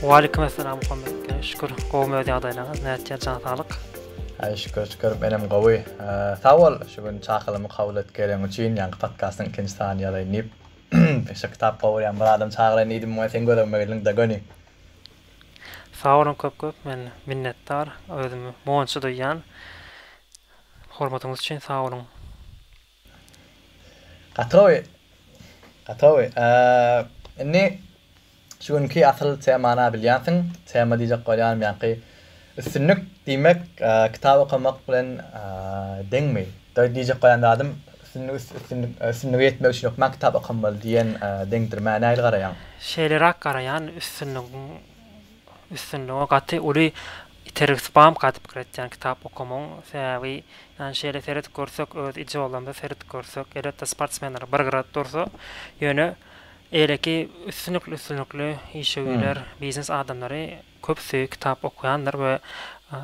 Waleýkim Essalam Muhammet Bey şükür gowym öz ýagdaýlaryňyz nätjä jan saglyk. Haý şükür şükür menem gowy sag bol şu gün çakylymy kabul et gelen üçin ýaňky podkastyň ikinji sanyny ýazaýyn diýip şo kitap gowurýan bir adam çagyraýyn diýdim muňa seň gözegime geldiň da göni. Sag boluň köp köp men minnetdar özümi monçy duýýan hormatyňyz üçin sag boluň. Gatowy! Gatowy! Indi şu günki asyl temany-a bilýänsiň. Tema diýjek bolýanym ýaňky üstünlik diýmek kitap okamak bilen deňmi? Diýjek bolýan zadym, üstünlige ýetmek üçin hökman kitap okamaly diýen deňdirmä nähili garaýaň? Şeýleräk garaýan, üstünligiň Üstünlige gaty uly itergi spam gaty pikir etýän kitap okamagyň sebäbi ýani şeýle seredip görsek öz ijolamyza seredip görsek elbetde sportsmenler bir gyrat dursa ýöne eýleki üstünlikli üstünlikli işewüýler biznes adamlary köpüsi kitap okaýandyr we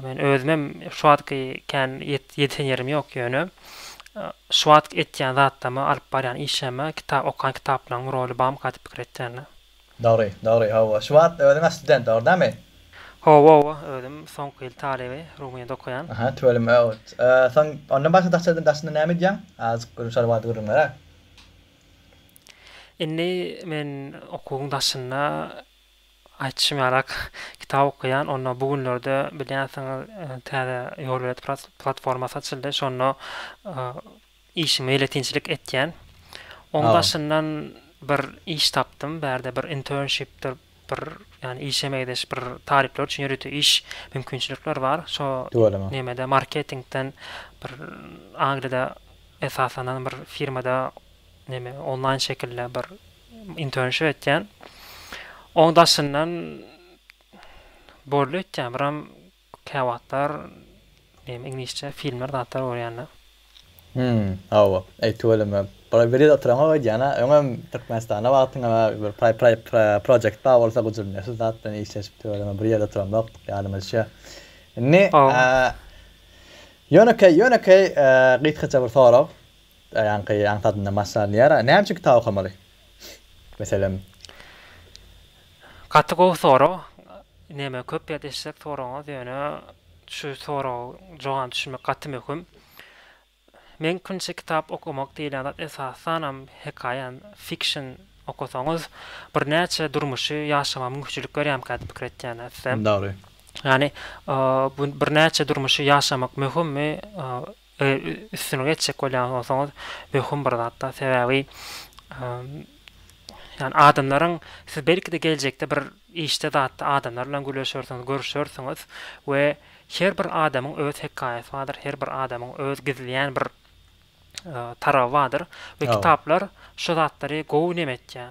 men özümem şu wagtky kän ýetişen ýerim ýok ýöne şu wagt etýän zatlaryma alyp barýan işime kitap okan kitaplaryň roly bamy gaty pikir etýän. Dogry, dogry, hawa, şu wagtda özüň asstudent, dogry damy? Hawa, hawa, özüm soňky ýyl talyby, Rumynyýada okaýan. Aha, tüweleme, öwt. Soň, ondan başga daşda, daşynda näme edýäň? Azajyk gürrüň şol barada gürrüňlere. Indi men okuwyň daşynda, aýtşym ýalak, kitap okaýan, onda bu günlerde bilýänsiňiz, täze Ýolberet platformasy açyldy, şonda, Işi meýletinçilik etýän. Oň daşyndan bir iş tapdym. Bärde bir internshipdir bir ýany işe meýleş bir talyplar üçin ýörite iş mümkinçilikler bar. Şo nemede marketingden bir Angliýada esaslanan bir firmada neme onlaýn şekilde bir internship etýän. Oň daşyndan boldy öýtýän biram Käwagtlar name iňlisçe filmler zatlar görýända. Hümm hawa eý tüweleme bir bir ýerde oturaňok öýdýän a öňem Türkmenistanda wagtyň a bir praý praý project bar bolsa gujuryn şu zat bilen işleşip tüweleme bir ýerde oturanokdyk ýadyma düşýär. Indi ýönekeý ýönekeý gysgaça bir sorag ýaňky aňsadyndan başlanýar näme üçin kitap okamaly? Meselem. Gaty gowy sorag. Neme köp gepleşsek soragyňyz ýöne şu soraga jogany düşünmek gaty möhüm. Meňkünçe kitap okamak diýilýän zat esasanam hekaýa, fiction, okasaňyz birnäçe durmuşy ýaşamaga mümkinçilik berýärmikä diýip pikir etýän ätlem. Dogry. Ýani bu birnäçe durmuşy ýaşamak möhümmi üstünlik etjek bolýan bolsaňyz möhüm bir zatda sebäbi ýani adamlaryň siz belkide geljekde bir işde zatda adamlar bilen gürleşersiňiz görüşersiňiz we her bir adamyň öz hekaýasy bardyr her bir adamyň öz gizleýän bir taraby bardyr we kitaplar şu zatlary gowy neme etýär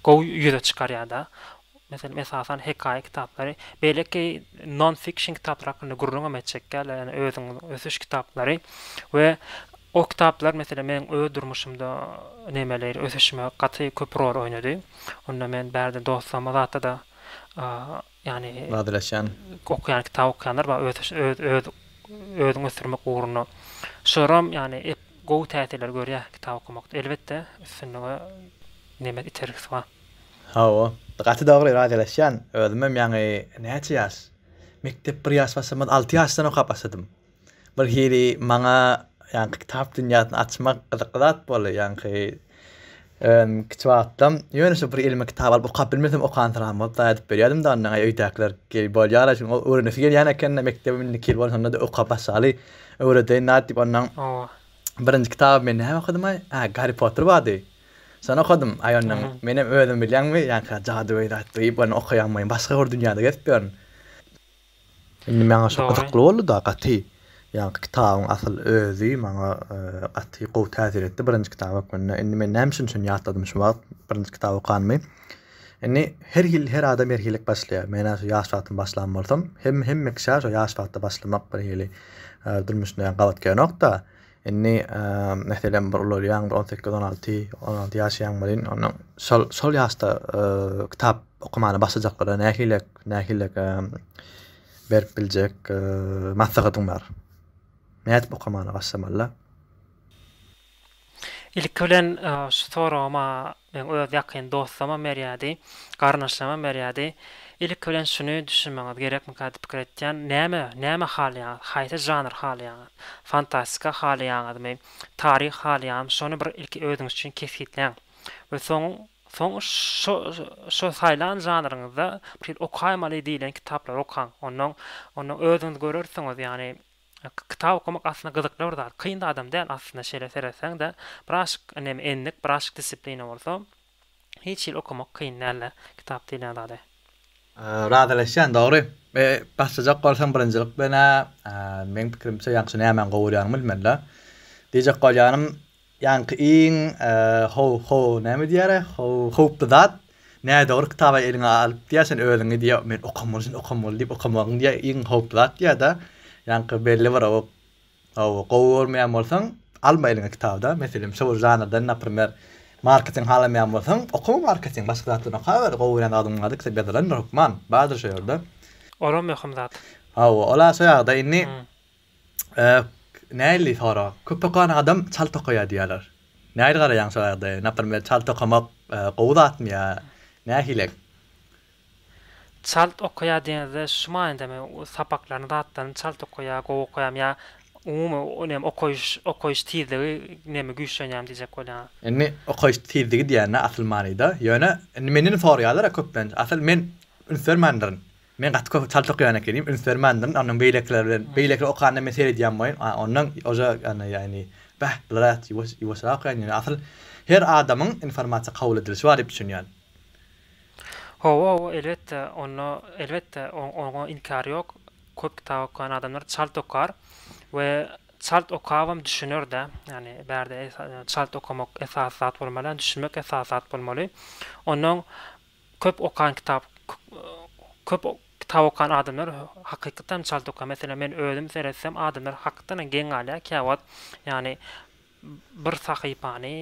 gowy ýüze çykarýarda Meselem, esasan hekaýa kitaplary, beýleki non-fiction kitaplar hakynda gürrüňem etjek däldir, ýagny özüňiziň ösüş kitaplary we o kitaplar, meselem, meniň öz durmuşymda nemeleýli ösüşime gaty köp rol oýnady. Onda men bärde dostlaryma zatda-da, ýagny, Wadylaşýan. Okaýan, kitap okaýanlar bar, ösüş, öz, öz, özüňi ösdürmek ugrunda. Şularam, ýagny, gowy täsirleri görýär kitap okamakda. Elbetde, üstünlige neme, itergisi bar. Hawa, gaty dogry razylaşýan, özümem ýaňy näçe ýaş, mekdep bir ýaş başlamaz alty ýaşdan okap başladym. Bir hili maňa ýaňky kitap dünýäsini açmak gyzykly zat boldy, ýaňky özüm kiçi wagtym ýöne şu bir elime kitap alyp okap bilmesem okansyragam bolup daýy aýdyp berýärdim de ondan aý öýdäkiler geý bolýara şuň öwrenesi gelýän ekende mekdebem indiki ýyl bolanda-da okap başlaly öwredeýin-dä diýip ondan birinji kitabymy men näme okadym-aý, hä Garri Potter bardy. Şony okadym, aý onnoň, menem özüm bilýäňmi, ýa-ha jadygöý zat duýup, ony okaýanmyýin, başga bir dünýäde gezip ýörün. Indi maňa şo gyzykly boldy-da gaty. Ýaňky kitabyň asyl özi maňa gaty gowy täsir etdi, birinji kitap hökmünde. Indi men näme üçin şuny ýatladym şu wagt, birinji kitaby okanymy. Indi her hil, her adam her hili başlaýar. Men-ä şo ýaş wagtym başlan bolsam, hem-hemme kişä şo ýaş wagtda başlamak bir hili durmuşynda ýaňy gabat gelenok-da. Indi, meselem, bir ulalýaň, bir on sekiz, on alty, on alty ýaşaýaň welin, onda şol, şol ýaşda kitap okamana başlajaklara nähili, nähili berip biljek maslahatyň bar? Nädip okamana başlamalylar? Ilki bilen, şu soragym-a Meň öz ýakyn dostlamam berýärdi, garyndaşlarymam berýärdi. Ilki bilen şuny düşünmegiňiz gerekmikä diýip pikir etýän, näme, näme halaýaňyz, haýsy žanr halaýaňyz? Fantastika halaýaňyzmy, taryh halaýaňyzmy, şony bir ilki özüňiz üçin kesgitläň we soň, soň şo, şo saýlan žanryňyzda bir hili okaýmaly diýlen kitaplary okaň. Onnoň, onnoň özüňiz görersiňiz, ýagny, Kitap okamak aslynda gyzykly bir zat. Kyn da adam däl aslynda şeýle seretseň-de. Biraşyk neme endik, biraşyk disiplina bolsa hiç hili okamak kyn däl-de kitap diýilýän zady. Razylaşýan dogry. Başlajak bolsaň birinjilik bilen-ä meň pikirimçe ýagşy nämäni gowurýanyňy bilmeli-dä. Diýjek bolýanym Ýaňky iň how how näme diýýär-ä how howply zat nädogry kitaby eliňe alyp diýýär sen özüňi diýýär men okamaly sen okamaly diýip okamagyň diýýär iň howply zat diýýär-de ýaňky belli bir o how gowy görmeýän bolsaň alma eliňe kitaby-da meselem şo bir žanrdan naprimer marketing halamaýan bolsaň okama marketing başga zatlaryny okaber gowy görýän zadyň bardyr kitap ýazylandyr hökman bardyr şo ýerde. Olam möhüm zat. Hawa ol-a şo ýagda indi Nähili sorag? Köp okan adam çalt okaýar diýýärler. Nähili garaýaň şu ýagdaýa? Naprmer, çalt okamak gowy zatmy ýa nähilek? Çalt okaýar diýeniňizde şu manydamy? Sapaklaryny, zatlaryny çalt okaýar, gowy okaýarmy ýa umumy näme okaýyş, okaýyş tizligi näme güýçlenýärmi diýjek bolýaňyz? Indi okaýyş tizligi diýende asyl manyda, ýöne indi menden sorýarlar-a köplenç. Asyl men üns bermändirin. Men gaty köp çalt okaýan ekenim, üns bermändin, onnoň beýlekiler bilen, beýlekiler okanda men seredýän boýun, a onnoň oža ýany ýany bäh bulara ýuwaş ýuwaşrak okaýan ýöne asyl her adamyň informasiýa kabul edilişi bar diýip düşünýän. Hawa hawa elbetde onda elbetde oň oňa inkär ýok, köp kitap okaýan adamlar çalt okar we çalt okabam düşüner-de, ýani bärde es çalt okamak esasy zat bolmaly, ýani düşünmek esasy zat bolmaly, onnoň Köp okan kitap Köp kitap okan adamlar hakykatdanam çalt okar. Meselem, men özüm seretsem, adamlar hakykatdanam geň galýar käwagt. Ýagny bir sahypany,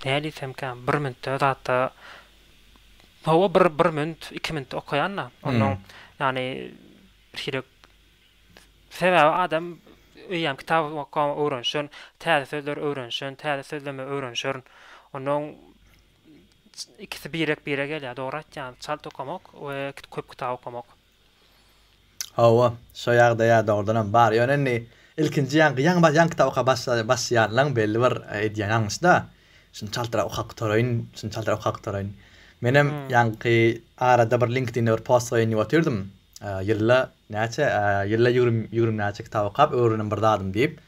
näle diýsemkä, bir minutda zatda Hawa, bir bir minut, iki minutda okaýan-da. Onnoň, ýagny şeýdip Sebäbi adam eýýäm kitap okap öwrenişen, täze sözler öwrenişen, täze sözleme öwrenişen. Onnoň Ikisi birek bire gelýär dogry aýtýaň çalt okamak we köp kitap okamak. Hawa şo ýagdaýa dogrudanam bar ýöne indi ilkinji ýaňky ýaňy bar ýaňky kitap okap başlaýanlaň belli bir edýän alňyşda şuny çaltrak okap gutaraýyn şuny çaltrak okap gutaraýyn menem ýaňky arada bir linkdinde bir post goýan ýüp otyrdym ýylda näçe ýylda ýügrüm ýügrüm näçe kitap okap öwrenem bir zadym diýip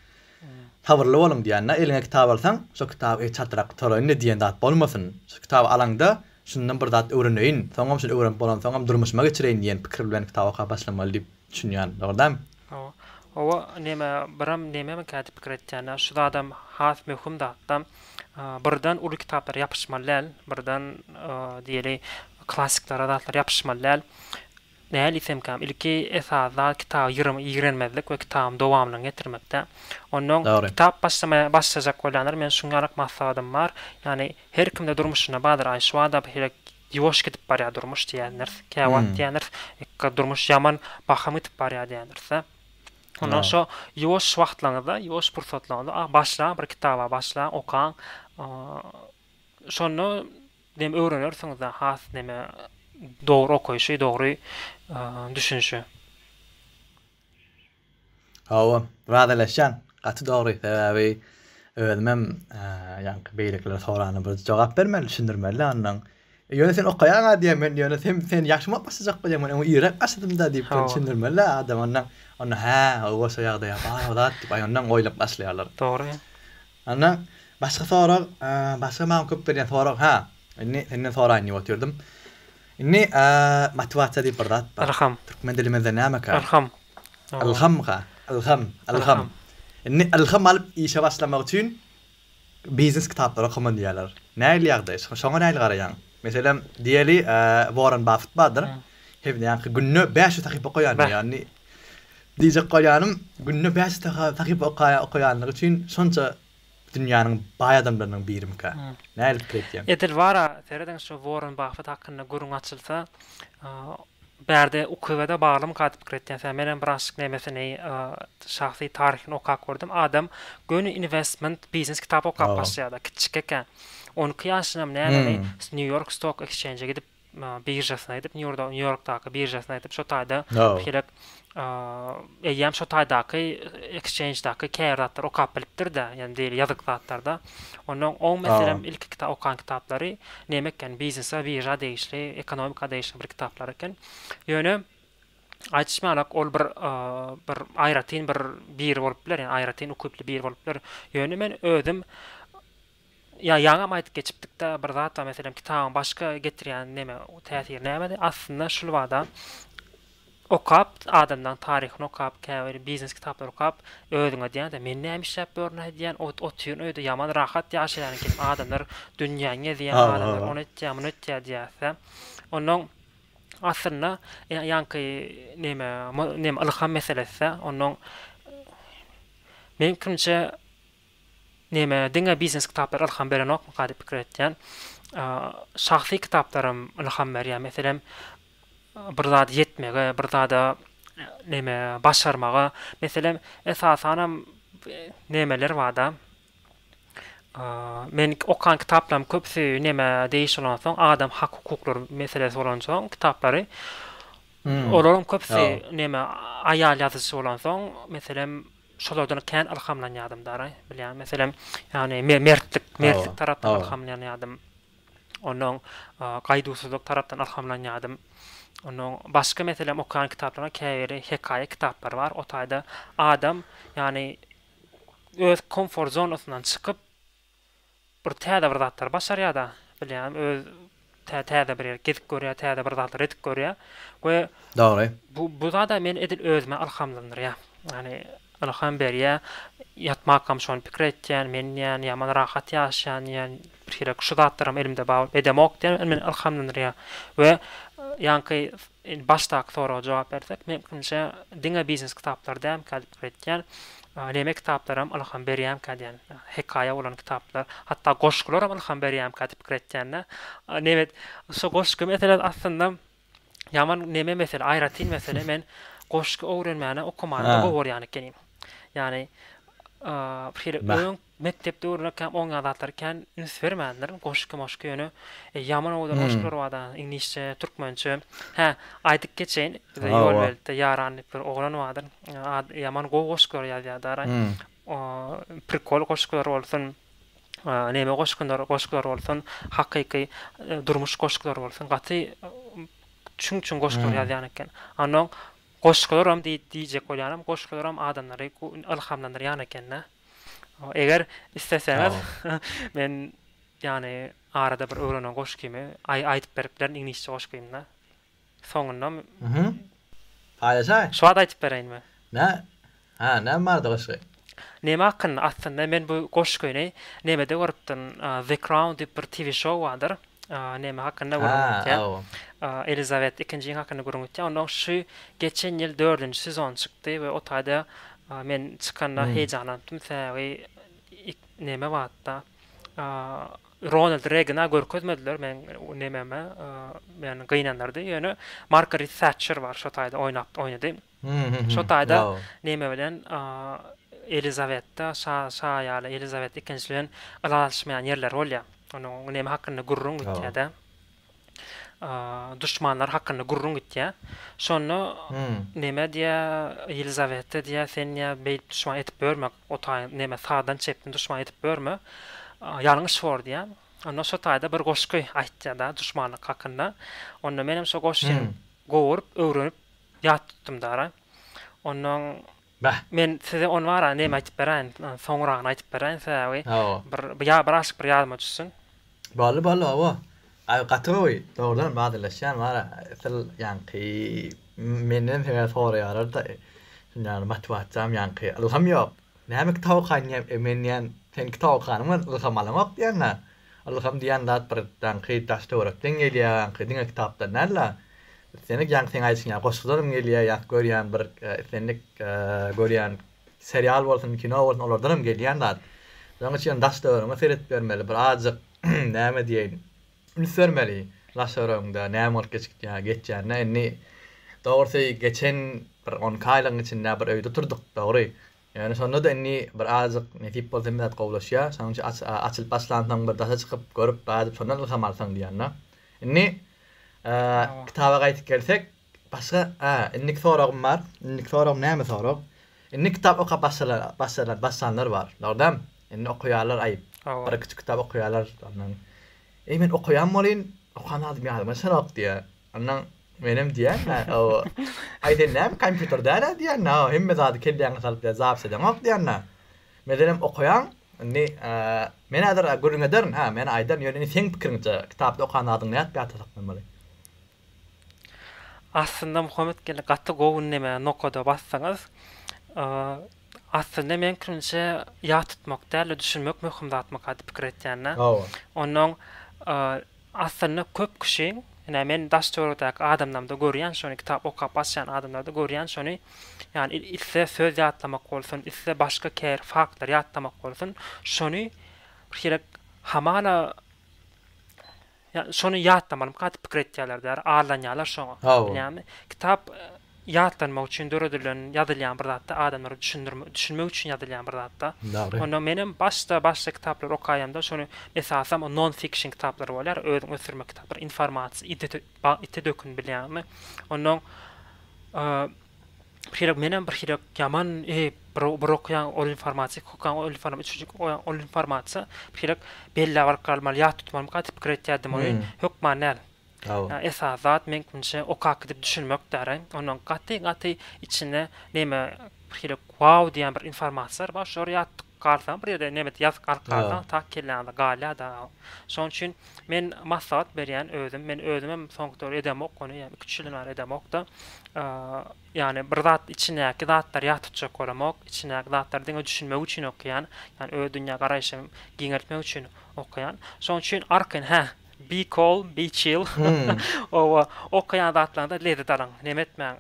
Sabyrly boluň diýänine eliňe kitap alsaň, şo kitaby eý çatrak gutaraýynda diýen zat bolmasyn. Şu kitaby alaňda, şundan bir zat öwreneýin, soňam şuny öwrenip bolansoňam durmuşyma geçireýin diýen pikir bilen kitap okap başlamaly diýip düşünýän. Dogry dämi? Hawa. Hawa, neme, biram nememikä diýip pikir etýän-ä. Şu zadam has möhüm zat-da. Birden uly kitaplara ýapyşmaly däl. Birden diýeli klassiklara, zatlara ýapyşmaly däl. Nähili itsemkäm, ilki esasy zat kitaby ýygyryma ýigrenmezlik we kitabyň dowamlygyny getirmekde. Onnoň Dogry. kitap başlamaýa başlajak bolýanlara meň şuň ýalyk maslahatym bar, ýagny her kimde durmuşynda bardyr, aý şu bada birek ýuwaş gidip barýar durmuş diýendiris, käwagt Hmm. diýendiris, ykga durmuş ýaman bahym gidip barýar diýendiris-dä. Onda Dogry. şo ýuwaş wagtlaryňyzda, ýuwaş pursatlaryňyzda a başlaň bir kitaba başlaň, okaň. Şonda Dem öwrenersiňizda has neme dogry okaýşy dogry düşünişi. Hawa, razylaşýan. Gaty dogry sebäbi özümem ýaňky beýlekilere sorana bir jogap bermeli düşündirmelidä ondan. Ýöne sen okaýaňa diýen men ýöne sen sen ýagşymy başajak bolýaň men oňa irek açdymda diýip bir düşündirmelidä adam ondan. Onda hä owoşa ýagdaýa bar o zat diýip aýandan oýlap başlaýarlar. Dogry. Ondan başga sorag, başga maňa köp berýän sorag, hä, indi senden soraýyn diýip otyrdym. Indi motiwasiýa diýip bir zat bar. Ylham. Türkmen dilimizde nämeka? Ylham. Ylhamka, ylham, ylham. Indi ylham alyp işe başlamak üçin biznes kitaplary okaman diýýärler. Nähili ýagdaý? Şoňa nähili garaýaň? Meselem, diýeli, Warren Buffett bardyr. Hemdäki günde bäş ýüz sahypa okaýan diýýär. Diýjek bolýanym, günde bäş sahypa okaýanlygy üçin şonça dünýäniň baý adamlarynyň birimikä. Nädip kiretýäň? Edil bar-a, serediň şu Worren Baffet hakynda gürrüň açylsa, bärde UKW-da baglymyka diýip kiretýän sen. Menem bir aşyk nemesini şahsy taryhyny okap gördüm. Adam göni inwestment, biznes kitap okap başlaýar-da, kiçjik eken. On iki ýaşynam nämäni Nýu-Ýork Stok Ekschenje gidip biržasyny aýdyp, Nýu-Ýorkdaky biržasyny aýdyp, şo taýda bir heleýk eýýäm şo taýdaky ekşenjdaky käbir zatlar okap bilipdir-de, ýagny diýeli ýazyk zatlarda. Onda oň meselem ilki kitap okan kitaplary näme eken, biznese, birža degişli, ekonomika degişli bir kitaplar eken. Ýöne aýdyşmalak, ol bir bir aýratyn bir biri bolup biler, ýagny aýratyn ukyply biri bolup biler. Ýöne men özüm Ýa ýaňam aýdyp geçipdikdä bir zat, meselem, kitabyň başga getirýän neme, täsiri nämedi? Aslynda şul bada okap, adamlaň taryhyny okap, käbir biznes kitaplary okap, özüň edýäň-de, men näme işläp ýörün edýän, ot otyryn öýde ýaman rahat ýaşaýan ekenim, adamlar dünýäň gezýän, adamlar ony etýä, muny etýä diýýäs-dä. Onnoň aslynda ýa ýaňky neme, neme ylham meselesi-dä. Onnoň meň pikirimçe Näme, diňe biznes kitaplar ylham berenokmyka diýip pikir etýän. Şahsy kitaplarym ylham berýär. Meselem, bir zady ýetmegi, bir zada näme, başarmagy. Meselem, esasanam nämeler barda, men okan kitaplarym köpüsi näme degişli bolansoň, adam hak-hukuklary meselesi bolansoň kitaplary, olaryň köpüsi näme, aýal ýazyjy bolansoň, meselem, Şolardan kän ylhamlanýardym daraý, bilýän meselem, ýagny mertlik, mertlik tarapdan ylhamlanýardym. Onda oň gaýduwsyzlyk tarapdan ylhamlanýardym. Onda oň başga meselem okaýan kitaplaryň käbiri hekaýa kitaplary bar. O taýda adam, ýagny öz komfort zonasyndan çykyp, Bir täze bir zatlary başarýar-da, bilýän, öz tä täze bir ýeri gezip görýär, täze bir zatlary edip görýär we Dogry. bu, bu zada men edil özüme ylhamlandyrýar. Ýagny, ylham berýär. Ýatmakam şony pikir etýän, men diýýän, ýaman rahat ýaşaýan diýýän, birhili şu zatlaram elimde bar bolup, edemok diýýän, ol meni ylhamlandyrýar we ýaňky Indi başdaky soraga jogap bersek, mümkinçe diňe biznes kitaplary dälmikä diýip pikir etýän. Näme kitaplaram ylham berýämikä diýen. Hekaýa bolan kitaplar, hatda goşgularam ylham berýämikä diýip pikir etýän-de. Nebet şu goşgy meselesi aslynda ýaman neme mesele, aýratyn mesele. Men goşgy öwrenmäne okamany-da gowy görýän ekenim. Ýagny bir hili öň Mekdepde öwrenekkäm oň ýaly zatlar kän üns bermändirin, goşgy-moşgy ýöne ýaman owadan goşgular barda, iňlisçe, türkmençe. Hä, aýdyp geçeýin, bizde Ýolbelentde Ýaran diýip bir oglan bardyr, ady ýaman gowy goşgular ýazýar daraý. Prikol goşgular bolsun, neme goşgular goşgular bolsun, hakyky durmuş goşgular bolsun, gaty çüň-çüň goşgular ýazýan eken. Annoň goşgularam diý diýjek bolýanym, goşgularam adamlary ylhamlandyrýan eken-dä. Eger isleseňiz men ýany arada bir öwrenen goşgymy aýdyp berip bilerin iňlisçe goşgymda soňunda paýlaşaý. Şu wagt aýdyp bereýinmi? Nä? Hä, näme barada goşgy? Näme hakynda? Aslynda men bu goşgyny nämede görüpdim? The Crown diýip bir TV show bardyr. Näme hakynda gürrüň etýär? Elizabet ikinjiň hakynda gürrüň etýär. Onda oň şu geçen ýyl dördünji sezon çykdy we o taýda men çykanda heýjanlandypdym. Sebäbi näme bardy-da? Ronald Regana görkezmediler meň nämeme, meni gynandyrdy. Ýöne Margaret Tätçer bar, şo taýda oýnapdy, oýnady. Şo taýda neme bilen Elizawetta şa şa ýaly Elizawetta ikinji bilen ylalaşmaýan ýerleri bolýa. Onuň neme hakynda gürrüň gitýädä. Duşmanlary hakynda gürrüň gitýä. Şonda neme diýä Elizawetta diýä sen diýä beýdip duşman edip ýörme otaý neme sagdan çepden duşman edip ýörme. Ýalňyş bor diýä. Onda şo taýda bir goşgy aýtýada duşmanlyk hakynda. Onda menem şo goşgyny gowuryp öwrenip Ýat tutdum dara. Onnoň Bäh. Men size ony bara neme aýtyp beräýin, soňragyny aýtyp beräýin, sebäbi Hawa. bir bir ýa bir aşyk bir ýadyma düşsün. Boldy, boldy, hawa. Aý, gaty gowy. Dogrudanam bädeleşýän bara, esil ýaňky menden sebäp soraýarlar-da, şunda ýaly motiwasiýam ýaňky ylham ýok. Näme kitap okaýyn diýýän, men diýýän, seň kitap okanyňdan ylham alan ýok diýýän-ä. Ylham diýýän zat bir daňky daş-töwerekden gelýär, aňky diňe kitapdan däl-de, islendik ýaňky seň aýdyşyň ýaly goşgularym gelýär, ýat görýän bir islendik görýän serial bolsun, kino bolsun olardanam gelýän zat. Şonuň üçin daş-töweregiňe seredip görmeli, bir azajyk näme diýeýin, üns bermeli daş-töweregiňde näme bolup geçikýär, geçýänine. Indi dogrusy geçen bir onki aýlygyň içinde bir öýde otyrdyk, dogry, Ýöne şonda-da indi bir azajyk nesip bolsa hemme zat gowulaşýar. Şonuň üçin açylyp başlansoň bir daşa çykyp görüp bädip şondan ylham alsaň diýýän-de. Indi kitaba gaýdyp gelsek, başga hä, indiki soragym bar. Indiki soragym näme sorag? Indi kitap okap başlaýan, başlanlar bar. Dogrydan, indi okaýarlar aýyp. Bir-iki kitap okaýarlar ondan. Eý men okaýan bolýyn, okan zadym ýadyma düşenok diýýär. Ondan menem diýýän, o, aý sen näme kompýuter däl-ä diýýän, o, hemme zady kelläňe salyp zapis edeňok diýýän. Meselem okaýaň, indi men häzir gürrüň ederin, hä, men aýdaryn, ýöne indi seň pikiriňçe kitapda okan zadyň nädip ýatda saklanmaly? Aslynda Muhammet geldi gaty gowy ündemä nokada basdyňyz. Aslynda meň pikirimçe ýat tutmak däl-de düşünmek möhüm zatmyka diýip pikir etýän-ä. Ondan Aslynda köp kişi, ine, men daş-töwerekdäki adamlarymda görýän şony, kitap okap açýan adamlarda görýän şony, ýagny iste söz ýatlamak bolsun, iste başga käbir faktlary ýatlamak bolsun, şony bir hili hamala şony ýatlamalymyka diýip pikir etýärler-de, ýary allanýarlar şoňa, bilýäňmi? Kitap ýatlanmak üçin döredilen ýazylýan bir zatda adamlara düşündirmek düşünmek üçin ýazylýan bir zatda Dogry. onda menem başda başda kitaplary okaýamda şony esasam o non fiction kitaplary bolýar özüňi ösdürmek kitaplary informasiýa ite ite dökün bilýäňmi ondan bir hili menem bir hili ýaman e bir bir okaýan ol informasiýa iki okaýan ol informasiýa üçünji okaýan ol informasiýa bir hili belläp alyp galmaly ýat tutmalymyka diýip pikir etýärdim ony hökman däl. Esasy zat meňkmnçe okap gidip düşünmekdäri. Onuň gaty gaty içinde neme birhili wow diýen bir informasiýalar bar. Şolary ýatdyk galsaň bir ýerde neme ýazyp galyp galsaň tak kelläňde galýada. Şoň üçin men maslahat berýän özüm. Men özümem soňky döwür edemok ony. Ýa iki üç ýyldan bäri edemokda. Ýagny bir zat içindäki zatlary ýat tutjak bolamok. Içindäki zatlary diňe düşünmek üçin okaýan. Ýagny öz dünýä garaýşymy giňeltmek üçin okaýan. Şoň üçin arkaýyn hä. Be cool, be chill. Oba, okaýan zatlaryňda lezzet alyň. Neme etmäň,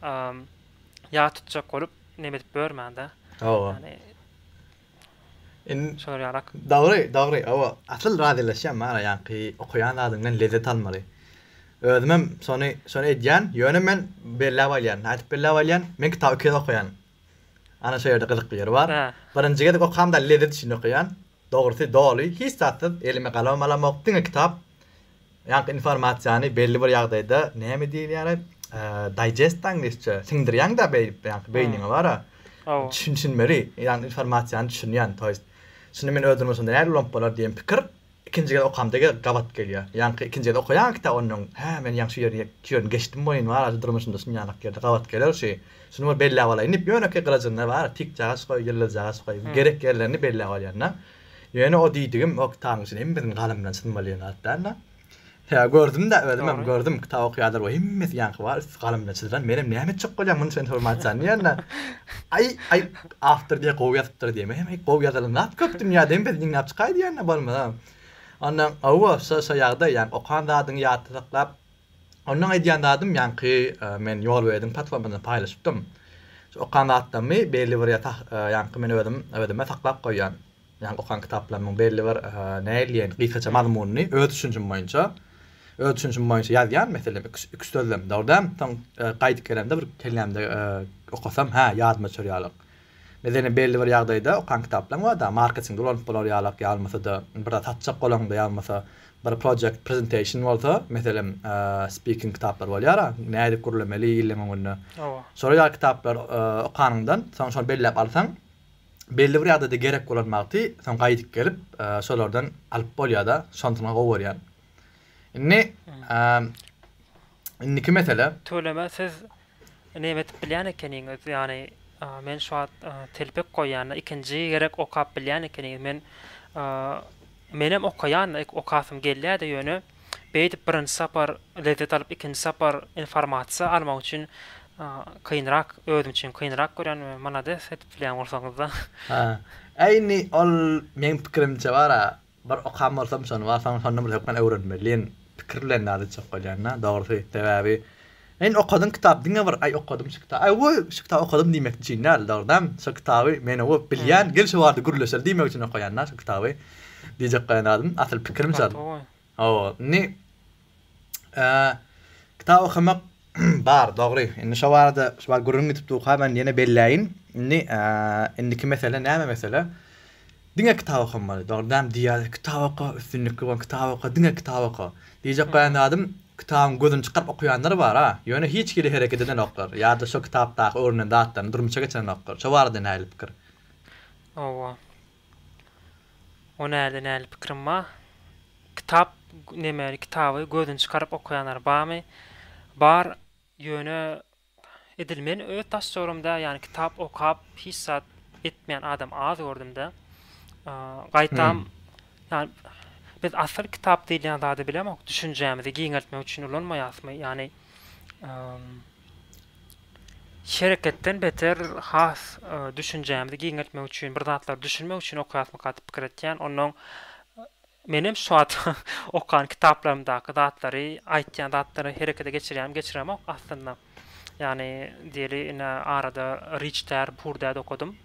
ýat tutjak bolup, neme edip ýörmäň-de. Oba. Indi şolar ýalak. Dogry, dogry. Oba, asyl razylaşýan maňa ýaňky okaýan zadyňdan lezzet almaly. Özüm hem şony, şony edýän. Ýöne men belläp alýan. Nädip belläp alýan? Men kitaby iki gezek okaýan. Ana şo ýerde gyzykly ýeri bar. Birinji gezek okamda lezzet üçin okaýan. Dogrusy doly hiç zatsyz elime galamym alamok diňe kitap ýaňky informasiýany belli bir ýagdaýda näme diýilýär aý daýjestda iňlisçe siňdirýäňdä beýdip ýaňky beýniňe bara düşünmeli ýaňky informasiýany düşünýän to ýest şunda men öz durmuşymda nädip ulanyp bolar diýen pikir ikinji gezek okamda gabat gelýär ýaňky ikinji gezek okaýaňky kitap onnoň hä men ýaňky şu ýerini şu ýerini geçdim welin bara şu durmuşymda şunýanak ýerde gabat geler şu Şuny bir belläp alaýyn diýip, ýönekeý gylyjynda bar tikjagaç goý, ýyldyzjagaç goý, gerek ýerlerini belläp alýan-da. Ýöne o diýdigim o kitabyň içinde hem biziň galamdan çyn bolýan zat däl-de. Sebäbi gördüm-de, özümem gördüm, kitap okaýanlar bar, hemmesi ýaňky bar, üsti galamdan çyzlan. Menem näme etjek bolýan munuň üçin informasiýany diýende, Aý, aý, awtor diýýär, gowy ýazypdyr diýýär. Menem, Aý, gowy ýazylan zat köp dünýäde, hem biz ýygnap çykaý diýende, bolmasa. Ondan, hawa, şo-şo ýagdaý, ýagny okan zadyňy ýatda saklap, Ondan aýdýan zadym ýaňky men ýol berdim platformasynda paýlaşypdym. Şu okan zatlarymy belli bir ýaňky men özüm özüme saklap goýýan. Ýaňky okan kitaplarymyň belli bir näleýin gysgaça mazmunyny öz düşünjim boýunça öz düşünjim boýunça ýazýan meselem iki iki sözlem dogry däl soň gaýdyp gelemde bir kellämde okasam hä ýadyma çorýalyk Biz ene belli bir ýagdaýda okan kitaplaň barda marketingde ulanyp bolar ýalak ýalmasada bir zat satjak bolaňda ýalmasa bir project presentation bolsa meselem speaking kitaplar bolýara nädip gürlemeli illeň öňünde şolar ýaly kitaplar okanyňdan soň şony belläp alsaň belli bir ýagdaýda gerek bolan wagty soň gaýdyp gelip şolardan alyp bolýada şonsyna gowy görýän indi Indiki mesele. Tüweleme siz neme edip bilýän ekeniňiz ýany men şu wagt telpek goýýanda ikinji gerek okap bilýän ekeniňiz men menem okaýan okasym gelýäde ýöne beýdip birinji sapar lezzet alyp ikinji sapar informasiýa almak üçin kynrak özüm üçin kynrak görýän we malades edip bilýän bolsaňyzda. Hä indi ol meň pikirimçe bara Bir okan bolsam şony bar, soň şondan bir hökman öwrenmeli diýen pikir bilen ýaly çykyp gelýän-dä, dogrusy. Sebäbi Men okadym kitap diňe bir Aý okadym şu kitap, aý woo şu kitap okadym diýmek üçin däl, dogrudanam şo kitaby men woo bilýän, gel şu barada gürleşeli diýmek üçin okaýan-da şu kitaby. Diýjek bolan zadym, asyl pikirim şol. Hawa, indi Kitap okamak bar, dogry. Indi şo barada şo bar gürrüň gidip durka men ýene belläýin. Indi indiki mesele näme mesele? Diňe kitap okamaly. Dogrudanam diýýärler, kitap oka, üstünlikli bol, kitap oka, diňe kitap oka. Diýjek bolan zadym, kitabyň gözüni çykaryp okaýanlar bar-a, ýöne hiç hili hereket edenoklar ýa-da şo kitapdaky öwrenen zatlaryny durmuşa geçirenoklar. Şo barada nähili pikir? Hawa. O näli näli pikirim ba. Kitap neme kitaby gözüni çykaryp okaýanlar bamy. Bar ýöne edil men öz daşjogramda ýany kitap okap hiç zat etmeýän adam az gördümde. Gaýtam ýany biz asyl kitap diýilýän zady bilemok düşünjämizi giňeltmek üçin ulanmaýasmy ýany. Şereketden beter has düşünjämizi giňeltmek üçin, bir zatlary düşünmek üçin okaýasmyka diýip pikir etýän. Onnoň menem şu wagt okan kitaplarymdaky zatlary, aýtýan zatlary herekete geçirýärin, geçiremok aslynda. Ýagny diýeli ine arada Riçtär, Purdäd okadym.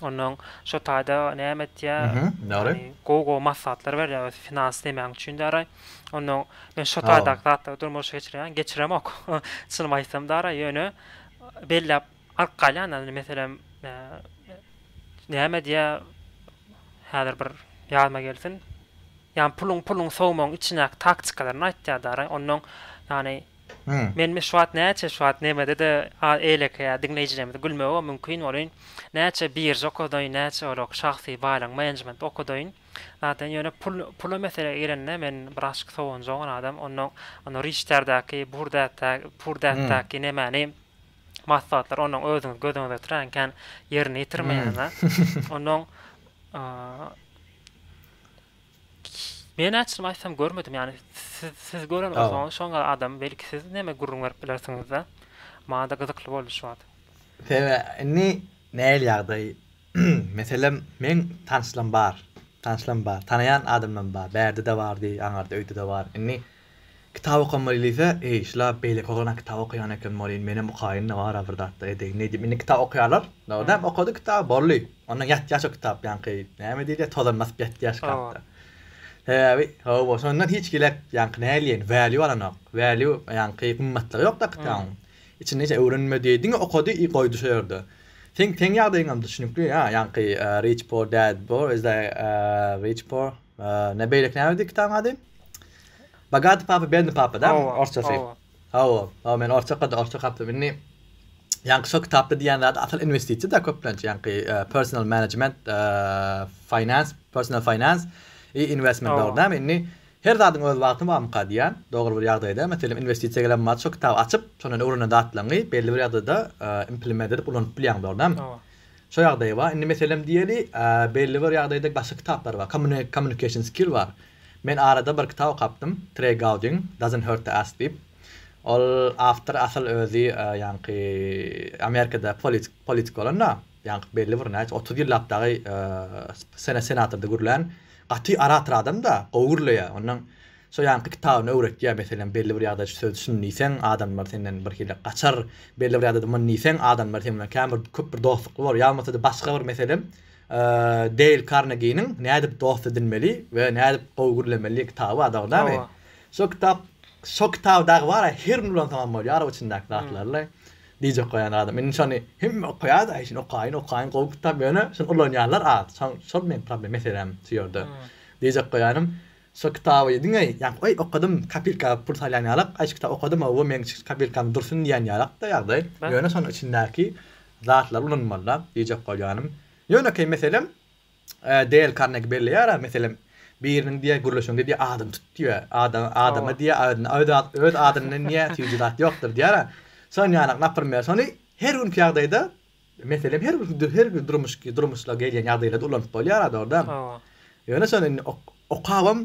Ondan şo taýda näme etýä? Mhm. Ýagny gowy gowy maslahatlar berýä öz finans demäň üçin däraý. Ondan men şo taýdaky zatlary durmuşa geçirýän, geçiremok. Çynymy aýtsam däraý ýöne belläp alyp galýan indi meselem näme diýä häzir bir ýadyma gelsin. Ýagny puluň puluň sowmagyň içindäki taktikalaryny aýtýa däraý. Ondan ýagny Men meşrubat näçe şuwat nemede-de eýlekeýär diňleýjilerimizi gülmegi mümkin bolýyn. Näçe birža okadaýyn, näçe olar şahsy baýlygyň menejmenti okadaýyn. Zaten ýöne pul pula mesele gelende men biraçk sowunjaň adam. Onnoň ony riçterdäki, burdätde, purdätdäki nemäni maslahatlary onnoň özüňiz gözüňize getirýän kän ýerine ýetirmeýäň-ä. Onnoň Men açlym aýtsam görmedim ýani siz siz gören bolsaňyz şoň gal adam belki siz näme gürrüň berip bilersiňizde maňada gyzykly boldy şu wagt. Sebe indi näl ýagdaý meselem meň tanşlam bar tanşlam bar tanaýan adamlam bar bärdede bardy aňarda öýdede bar indi Kitap okamaly diýse, eý, şular beýleki oglan kitap okaýan eken welin, menem okaýyn-da bar-a bir zatlar edeýin nädip indi kitap okaýarlar, dogrydanam okady kitaby, boldy, ondan ýatýar şo kitap ýaňky näme diýilýär, tozan basyp ýatýar şkafda. Sebäbi, hawa, şondan hiç gilek ýaňky näleýin, value alanok, value ýaňky gymmatlygy ýok-da kitabyň, içinde hiç öwrenmedi, diňe okady i goýdy şo ýerde. Seň seň ýagdaýyňam düşnükli, a, ýaňky Rich Poor Dad Poor, is that Rich Poor, ne beýleki nämedi kitabyň ady? Bogati papa bedni papa da orsçasy. Hawa, hawa men orsça okadym, orsça okapdym. Indi ýaňky şo kitapda diýen zady asyl inwestisiýa da köplenç ýaňky personal management, finance, personal finance i investment bar dämi. Indi her zadyň öz wagty barmyka diýän dogry bir ýagdaýda. Meselem inwestisiýa gelen mahaly şo kitaby açyp, şondan öwrenen zatlaryňy belli bir ýagdaýda implement edip ulanyp bilýäň bar dämi. Şo ýagdaýy bar. Indi meselem diýeli belli bir ýagdaýda başga kitaplar bar. Kommunikation skill bar. Men arada bir kitap okapdym, Trey Gowdyň Doesn't Hurt to Ask diýip. Ol awtor asyl özi ýaňky Amerikada politik politik bolan-da, ýaňky belli bir näçe otuz ýyllap dagy sena senatorda gürlän gaty orator adam-da, gowy gürleýär. Ondan şo ýaňky kitabyny öwretýär, meselem, belli bir ýagdaýda şu sözi şuny diýseň, adamlar senden birhili gaçar, belli bir ýagdaýda muny diýseň, adamlar seň bilen kän bir köp bir dostlukly bolar, ýa bolmasa-da başga bir meselem, Deýl Karneginiň Nädip dost edinmeli we nädip gowy gürlemeli kitaby adagdamy? Hawa. Şo kitap şo kitaby dagy bara her gün ulansaňam bolýar o içindäki zatlary diýjek goýan zadym. Indi şony hemme okaýar-da, eý şuny okaýyn, okaýyn gowy kitap ýöne şuny ulanýanlar az. Şoň şol meň problem meselem şu ýerde. Diýjek goýanym Şo kitaby diňe ýa oý okadym kapilka pul salýan ýalak, aý şu kitaby okadym owo meň kapilkam dursun diýen ýalakda ýagdaý. Ýöne şonuň içindäki zatlary ulanmalyda diýjek bolýanym. Ýönekeý meselem Deýl Karnegi belleýär-ä meselem biriniň diýýär gürleşiň diýýär adyny tut diýýär. Adam adama diýýär öz adyndan diýýär süýji zat ýokdur diýýär-ä. Şonuň ýaly naprimýer şony her günki ýagdaýda Meselem her bir her bir durmuş durmuşda gelýän ýagdaýlarda ulanyp bolýar a dogrudan. Hawa. Ýöne şony indi okabam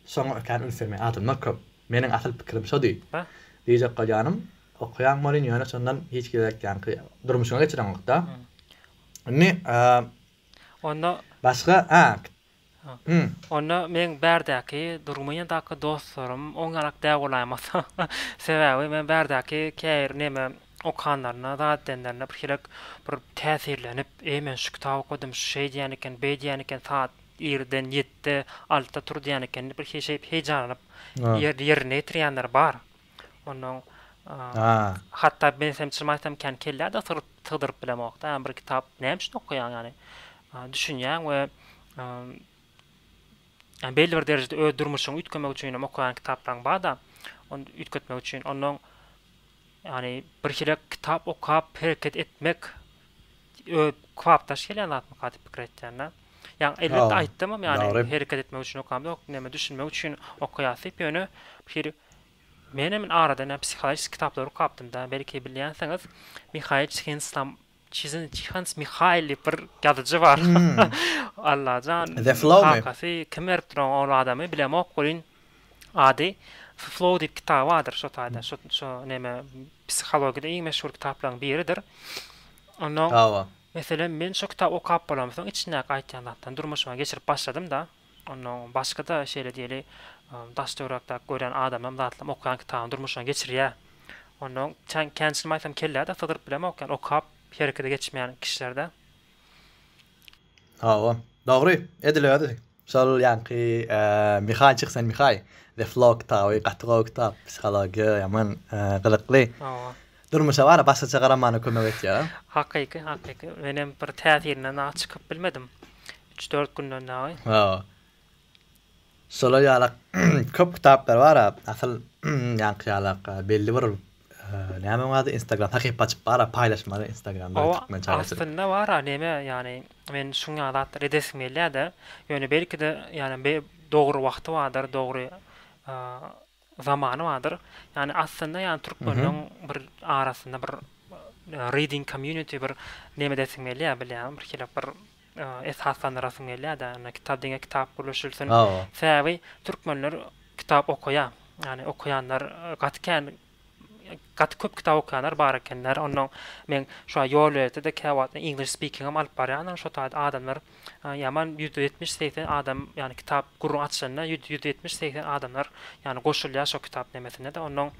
şoňa ökän üns bermeýän adamlar köp. Meniň asyl pikirim şody. Bah. Diýjek bolýanym okaýan bolýn ýöne şondan hiç gezek ýaňky durmuşyňy geçireňokda. Indi Onda. Başga a Onda meň bärdäki, Durgumyýadaky dostlarym on galak däw bolaýmasa. Sebäbi men bärdäki käbir neme okanlarynda, zat edenlerinde birhilek bir täsirlenip, Eý, men şu kitaby okadym, şu şeý diýýän eken, beý diýýän eken, saat irden ýetde, altda tur diýýän eken diýip, birhili şeýdip heýjanlanyp ýerine ýetirýänler bar. Onnoň hatda men sen çyn aýtsam kän kelläde syryp sygdyryp bilemokda ýa bir kitap näme üçin okaýaň ýany düşünýäň we ýa belli bir derejede öz durmuşyňy üýtgemek üçin hem okaýan kitaplaryň barda ony üýtgetmek üçin onnoň ýani birhili kitap okap hereket etmek ö kybapdaş gelýän zatmyka diýip pikir etýända ýa elbetde aýtdymam ýani hereket etmek üçin okamzok näme düşünmek üçin okaýas diýip ýöne bir hili Menem in arada näme psihologiski kitaplary okapdymda, belki bilýänsiňiz, Mihail Çihenstam, Çizin, Çihans Mihail diýip bir ýazyjy bar. Allajan, The Flow my? kakasy kim beripdir oňa ol adamy, bilemok welin, ady The Flow diýip kitaby bardyr şo taýda, şo, şo näme, psihologiýada iň meşhur kitaplaryň biridir. Onnoň, Hawa. meselem, men şo kitaby okap bolamsoň, içindäki aýtýan zatlaryny durmuşyma geçirip başladym-da. Onnoň başga-da şeýle diýeli, daş-töwerekdäki görýän adamym zatlam okaýan kitabyny durmuşyna geçirýär. Onnoň çen känçilim aýtsam kellä-de sygdyryp bilemok, ýagny okap herekete geçmeýän kişiler-dä. Hawa, dogry, edil özi. Şol ýaňky Mihaý çyksan Mihaý, The Flow kitaby gaty gowy kitap, psihologiýa ýaman gyzykly. Hawa. Durmuşa bara başgaça garamana kömek etýär. Hakyky, hakyky. Menem bir täsirinden-a çykyp bilmedim. Üç-dört günden dagy. Hawa. Şolar ýalak köp kitaplar bar-a, asyl ýaňky ýalak belli bir näme onuň ady instagram sahypa açyp bar-a paýlaşmaly instagramda türkmen çagaçylyk. Hawa aslynda bar-a näme ýagny men şuň ýaly zatlary edesim gelýä-de ýöne belki-de ýagny dogry wagty bardyr dogry Zamany bardyr. Ýani aslynda ýani türkmenleň bir arasynda bir reading community bir neme edesiň gelýär bilýäňmi bir şeýle bir esaslandyrasyň gelýärde ýani kitap diňe kitap gürleşilsin. Sebäbi türkmenler kitap okaýar. Ýani okaýanlar gaty kän gaty köp kitap okaýanlar bar ekenler. Onnoň men şo ýol ýörete-de käwagtlar english speaking hem alyp barýaryn şo taýda adamlar Ýaman ýüz ýetmiş segsen adam ýany kitap gürrüň açylanda ýüz ýüz ýetmiş segsen adamlar ýany goşulýar şo kitap nemesindede onnoň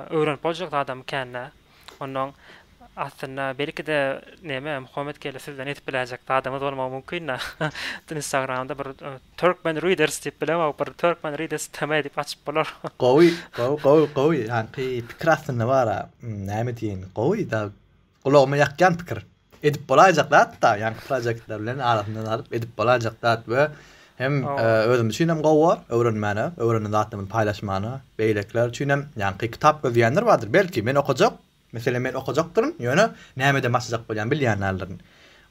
öwrenip boljak zadam kända onnoň aslynda belkide neme Muhammet geldi sizden edip biläýjek zadamyz bolmagy mümkinda instagramda bir turkmen readers diýip bilemok bir turkmen readers tm diýip açyp bolar gowy gowy gowy gowy ýanky pikir aslynda bara näme diýeýin gowy da gulagyma ýakýan pikir. Edip bolaýjak zat-da, ýaňky proýektler bilen arasyndan alyp edip bolaýjak zat we hem özüm üçin hem gowy bor, öwrenmäne, öwrenen zatlarymy paýlaşmana, beýlekiler üçin hem, ýaňky kitap gözleýänler bardyr, belki, men okajak, meselem, men okajakdyryn, ýöne nämeden başlajak bolýan bilýän däldirin.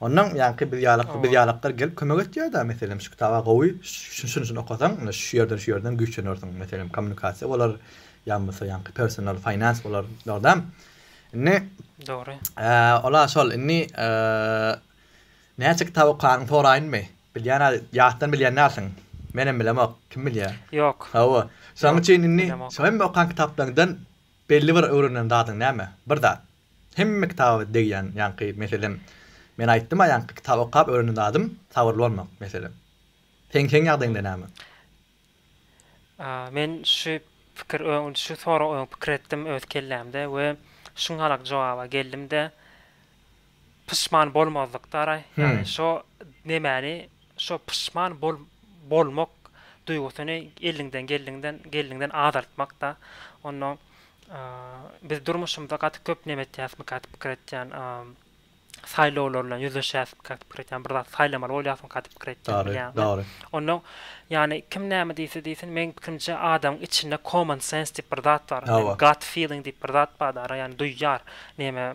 Onnoň ýaňky biz ýaly, biz ýalaklar gelip kömek etýär-de, meselem, şu kitaba gowy, şuny-şuny okasaň, ine, şu ýerden, şu ýerden güýçlenersiň, meselem, kommunikasiýa bolar, ýa bolmasa ýaňky personal, finance bolar, dogry dämi? Indi Dogry. Eee, ola şol. Indi eee, näçe kitap okanyňy soraýynmy? Bilýän al, ýatdan bilýän dälsiň. Menem bilemok, kim bilýär? Ýok. Hawa. Şonuň Ýok, üçin indi bilemok. şu hemme okan kitaplaryňdan belli bir öwrenen zadyň näme? Bir zat. Hemme kitaba degýän, ýaňky, meselem, men aýtdym-a ýaňky, kitap okap öwrenen zadym, sabyrly bolmak, meselem. Seň, seň ýagdaýyňda näme? Men şu pikir öň şu sorag öň pikir etdim öz kellämde we şunhalak jogaba geldimde pyşman bolmazlyk dara ýagny şo nemäni şo pyşman bol bolmak duýgusyny eliňden geldiginden geldiginden azaltmakda onda biz durmuşymyzda gaty köp neme etýäsmyka diýip pikir etýän. saýlawlar bilen ýüzleşýärsiň käte pikir etýän bir zat saýlamaly bolýarsyň käte pikir etýän bilýän dogry ondan ýagny kim näme diýse diýsin meň pikirimçe adamyň içinde common sense diýip bir zat bar gut feeling diýip bir zat bar dara ýagny duýýar näme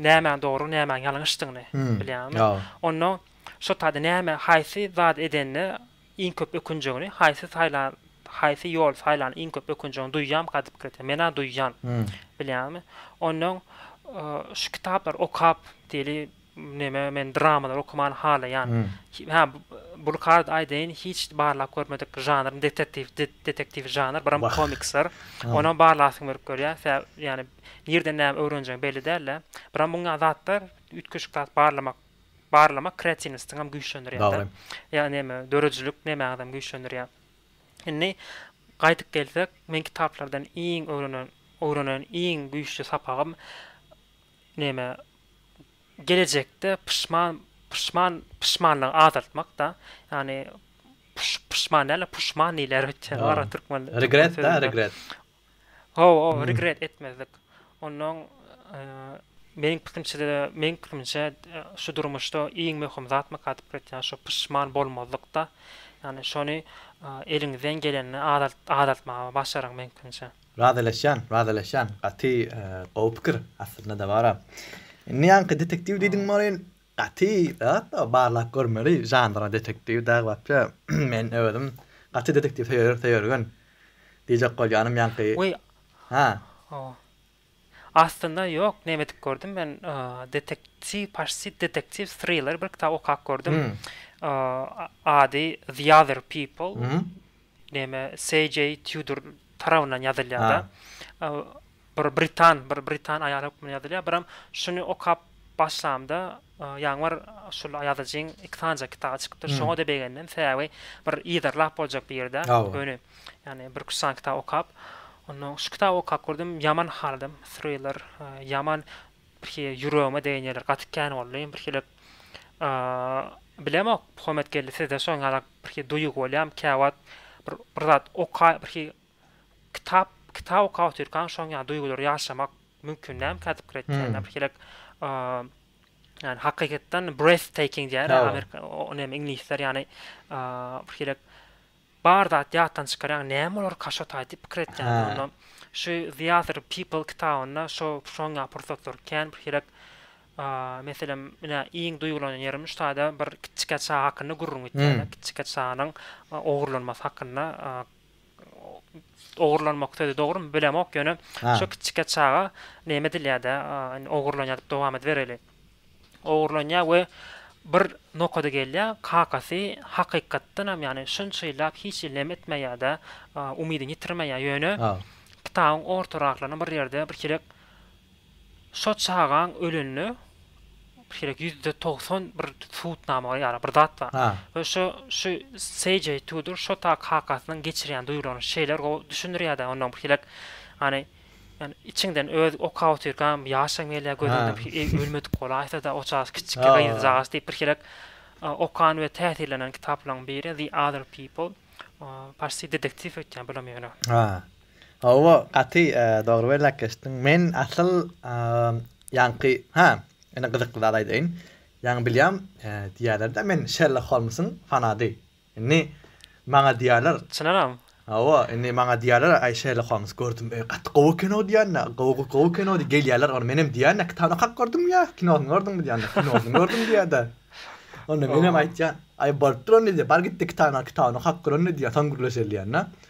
nämäň dogry nämäň ýalňyşdygyny bilýäňmi ondan şo taýda näme haýsy zat edende Iň köp ökünjegini haýsy saýlan haýsy ýol saýlan iň köp ökünjegini duýýam gadyp girdä menä duýýan bilýäňmi onnoň şu kitaplary okap diýeli neme men dramalar okamany halaýan hä bulkarda aýdaýyn hiç barlap görmedik žanrym detektiw detektiw žanr biram komiksler onam barlasyň berip görýä sä ýani nirden näme öwrenjegiň belli dälä biram muňa zatlar üýtgeşik zat barlamak Barlamak kreatiwnostiňem güýçlendirýär-de. Ýa neme, döredijilik nemäňizem güýçlendirýär. Indi gaýdyp gelsek, men kitaplardan iň öwrenen, öwrenen iň güýçli sapagym neme, gelejekde pyşman, pyşman, pyşmanlygy azaltmak-da. Ýagny, pyş, pyşman däl-de, puşman diýilýär, türkmen, türkmen sözünde. Regret-da, regret. Haw haw regret etmezlik. Onnoň meniň pikrimçede meniň pikrimçe şu durmuşda iň möhüm zat mykadip etýän şu pyşman bolmazlykda. Ýani şony eliňizden gelende azaltmaga başaryň meniň pikrimçe. Razylaşýan razylaşýan gaty gowy pikir aslynda dabara. Indi ýaňky detektiw diýdiň bolin Gaty zatda barlap görmeli žanra detektiw dag wapşe men özüm gaty detektiw söýer söýergen diýjek bolýanym ýaňky Weý ha. Ow. Aslynda ýok näme edip gördüm men detektiw paşşit detektiw thriller bir kitap okap gördüm ady the other people näme CJ Tudor tarabyndan ýazylýada. Bir britan, bir britan aýaly hökmünde ýazylýar. Biram şuny okap başlamda, ýaňy bir şul ýazyjyň iki sanyja kitaby çykypdyr. Şoňa-da begendim. Sebäbi bir yzarlap boljak bir ýerde, göni, ýagny bir-iki-üç sany kitaby okap, onnoň şu kitaby okap gördüm, ýaman haladym. Thriller, ýaman birki ýüregime degen ýerleri gaty kän boldy. Birhilek, bilemok, Homet geldi, sizde şoňa ýaly birki duýgy bolýarmy? Käwagt bir, bir zat oka, birki Kitap kitap okap otyrkaň şoň ýaly duýgulary ýaşamak mümkin dälmi kädip ýa-da birhilek ýany hakykatdan breath taking diýýär amerika ony hem iňlisler ýany birhilek bar zat ýatdan çykar ýaňy näme bolar kaşataý diýip pikir etýän onda şu the other people kitabynda şo şoň ýaly pursatlar kän birhilek meselem ine iň duýgulanan ýerim şu taýda bir kiçjike çaga hakynda gürrüň gitýär kiçjike çaganyň ogurlanmasy hakynda ogurlanmak sözi dogrymy bilemok ýöne şo kiçijike çaga neme edilýärde indi ogurlanýar diýip dowam edibereli ogurlanýar we bir nokada gelýär kakasy hakykatdanam ýagny şunça ýyllap hiç hili neme etmeýärde umydyny ýitirmeýär ýöne kitabyň ortaraklaryna bir ýerde bir çirek Şo çagaň ölende gerek ýüzde togsan bir subutnama bar ýa-da bir zat bar. We şo şu CJ Tudor şo ta kakasynyň geçirýän duýgularyny şeýler gowy düşündirýär-de ondan bir elek hany ýani içiňden öz okap otyrkaňam ýaşaň gelýär gözüňden bir eý ölmedik bolaýsa-da o çagasy kiçijik gyzjagazy diýip bir elek okan we täsirlenen kitaplaryň biri The Other People. Parsça detektiw öýtýän bulam ýöne. Hawa gaty dogry bellek geçdiň men asyl ýaňky ha ine gyzykly zat aýdaýyn ýaňy bilýän diýýälerde men Şerlok Holmsyň fanady indi maňa diýýäler Çynaram? Hawa indi maňa diýýäler aý Şerlok Holms gördüm öý gaty gowy kino diýýände gowy gowy kino diýip gelýäler ony menem diýýände kitabyny okap gördüňmi ýa kinosyny gördüňmi diýýände kinosyny gördüm diýýärde onda menem aýtýan aý bolupdyr onda diýýär bar gitde kitabyny al kitabyny okap gör onda diýýär soň gürleşeli diýýän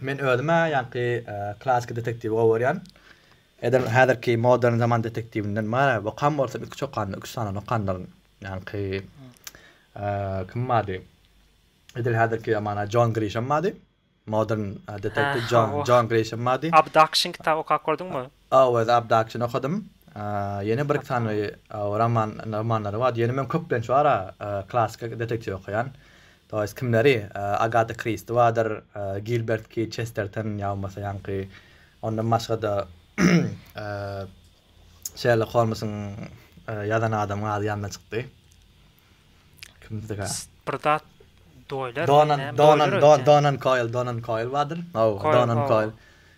Men özüm-ä ýaňky klassyky detektiwi gowy görýän. Edil häzirki modern zaman detektiwinden bar-a, okan bolsam iki çokanda, üç sandan okandyryn. Ýaňky kim bardy? Edil häzirki ýamana Jon Grişem bardy. Modern detektiw Jon Jon Grişem bardy. Abduction kitaby okap gördüňmi? Owez Abdakçyny okadym. Ýene bir-iki sany roman romanlary bar. Ýöne men köplenç bar-a klassyky detektiw okaýan. To ýest kimleri? Agata Kristi bardyr, Gilbert K. Çesterton ýa bolmasa ýaňky ondan başga-da Şerlok Holmsyň ýazan adamyň ady ýadyma çykdy. Kimdi ga? Bir zat doýlar. Donan, donan, don, donan koil, donan koil wadyr. No, donan koil.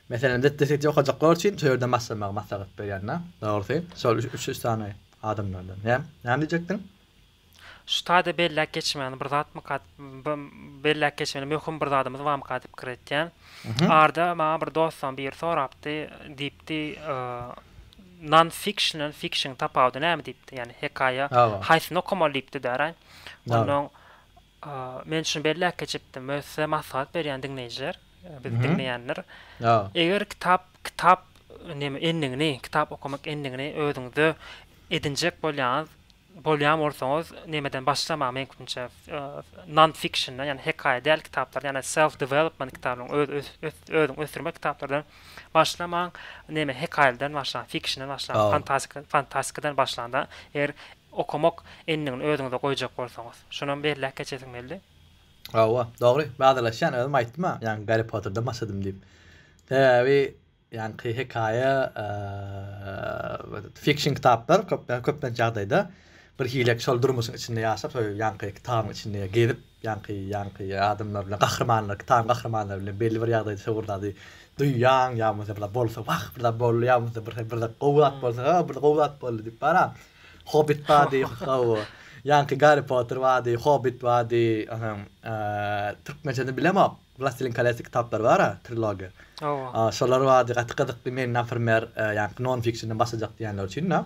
Meselem, zetde seti okajaklar üçin şu ýerden başlamagy maslahat berýän da. Dogrusy, şol üç, üç, üç sany adamlardan. Näme, näme diýjekdiň? Şu taýda belläp geçmäni bir zatmyka, belläp geçmeli möhüm bir zadymyz barmyka diýip pikir etýän. Arda maňa bir dostdan biri sorapdy, diýipdi, Non-fiction-dan fiction tapawudy näme diýipdi? Ýagny hekaýa haýsyny okamaly diýipdi däraý. Onnoň men şuny belläp geçipdim, möhse maslahat berýän diňleýjiler, bizi diňleýänler. Eger kitap kitap neme endigini, kitap okamak endigini özüňizde edinjek bolýaňyz, Bolýan bolsaňyz nämeden başlamagy meňkimçe non fiction ýagny hekaýa däl kitaplardan ýagny self development kitabynyň öz özüň ösdürmek kitaplardan başlamaň neme hekaýalardan başlaň fikşinden başlaň fantastika fantastikadan başlanda eger okamak endigini özüňize goýjak bolsaňyz şonam belläp geçesiň belli. Hawa dogry badalaşýan özüm aýtdym-a ýaňky Garri Potterden başladym diýip. Sebäbi Ýaňky hekaýa fikşn kitaplar köplenç ýagdaýda bir hile şol durmuşyň içinde ýaşap şol ýaňky kitabyň içinde gezip ýaňky ýaňky adamlar bilen gahrymanlar kitabyň gahrymanlary bilen belli bir ýagdaýda şo bir zady duýýaň ýa bolmasa bir zat bolsa wah bir zat boldy ýa bolmasa bir bir zat gowy zat bolsa ha bir gowy zat boldy diýip bar a hobit bady hawa ýaňky garri potter bady hobit bady türkmençesini bilemok. Wlastilin kolesy kitaplary bara trilogiýa. Hawa. Şolar bady gaty gyzykly men naprimer ýaňky non fikşinden başlajak diýenler üçin da.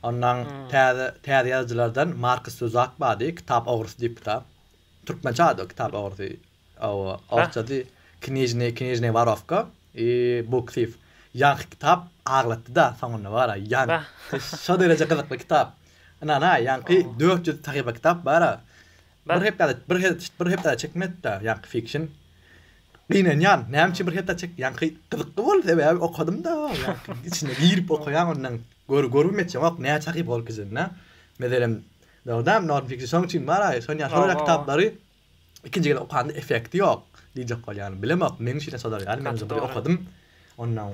Ondan täze täze ýazyjylardan Markus Zuzak bady kitap ogrusy diýip kitap. Türkmençe ady o kitap ogrusy. Hawa. Orsçasy knizhny knizhny warovka i book thief. Ýaňky kitap aglatdy da soňunda bara ýan şo dereje gyzykly kitap. Ynanaý ýaňky dört ýüz sahypa kitap bara Bir hepdede bir hepdede bir hepdede çekmezda ýaňky fikşin gynanýan näme üçin bir hepde çek ýaňky gyzykly bol sebäbi okadymda ýaňky içine girip okaýan ondan gör görüp etjemok näçe sahypa ol kizinde meselem dogdam norm fikşin şoň üçin bar aý şon ýaşuly ýaly kitaplary ikinji gezek okanda efekti ýok diýjek bolýan bilemok meň üçin şolar ýaly men bir okadym ondan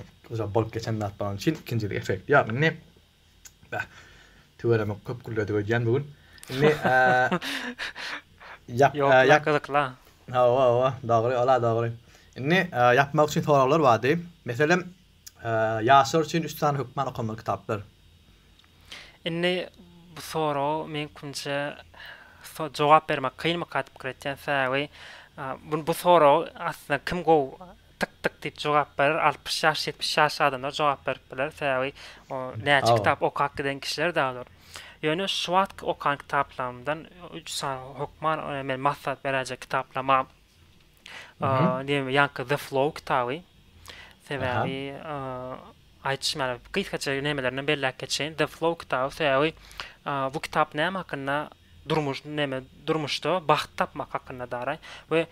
bolup geçen zat bolany üçin ikinji efekti ýok indi Bäh. Tüweleme köp gülledik öýdýän bu gün. Indi ýap ýap gyzykla. Hawa hawa dogry ola dogry. Indi ýapmak üçin soraglar bardy. Meselem ýaşlar üçin üç sany hökman okanmaly kitaplar. Indi bu soraga meňkümçe jogap bermek kynmyka diýip pikir etýän sebäbi bu soragy aslynda kim gowy Tyk tyk diýip jogap berer. Altmyş ýaş, ýetmiş ýaşly adamlar jogap berip biler. Sebäbi o näçe kitap okap giden kişiler däl olar. Ýöne şu wagtky okan kitaplarymdan üç sany hökman men maslahat beräýjek kitaplama diýme ýaňky The Flow kitaby. Sebäbi aýtym ýaly gysgaça nämelerinden belläp geçeýin. The Flow kitaby sebäbi bu kitap näme hakynda durmuş näme durmuşda bagt tapmak hakynda daraý we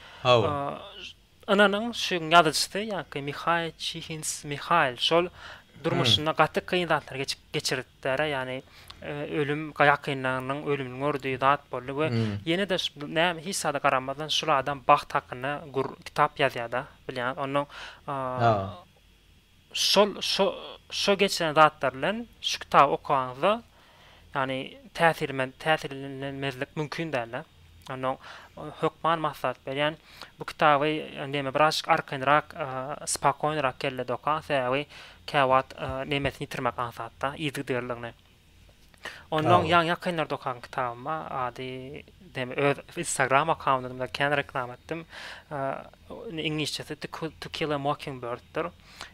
Ynanyň, şu ýazyjysy, ýaňky Mihaý Çihins Mihaýl şol durmuşynda gaty kyn zatlary geçip geçiripdir-ä, ýagny ölüm, ýakynlarynyň ölümini gördi, zat boldy we ýene-de näme hiç zada garamazdan şul adam bagt hakynda gür kitap ýazýar-da, bilýäňiz, onnoň Şol şo şo geçiren zatlar bilen şu kitaby okanyňyzda ýagny täsirmen täsirlenmezlik mümkin dälda. Onnoň hökman maslahat berýän bu kitaby neme birazjyk arkaýynrak spakoýnyrak kellede okaň sebäbi käwagt nemesini ýitirmek aňsatda yzygiderligini. Onnoň ýaňy ýakynlarda okan kitabyma ady demi öz Instagram akkaundymda kän reklama etdim. Iňlisçesi To Kill a Mockingbird'dir.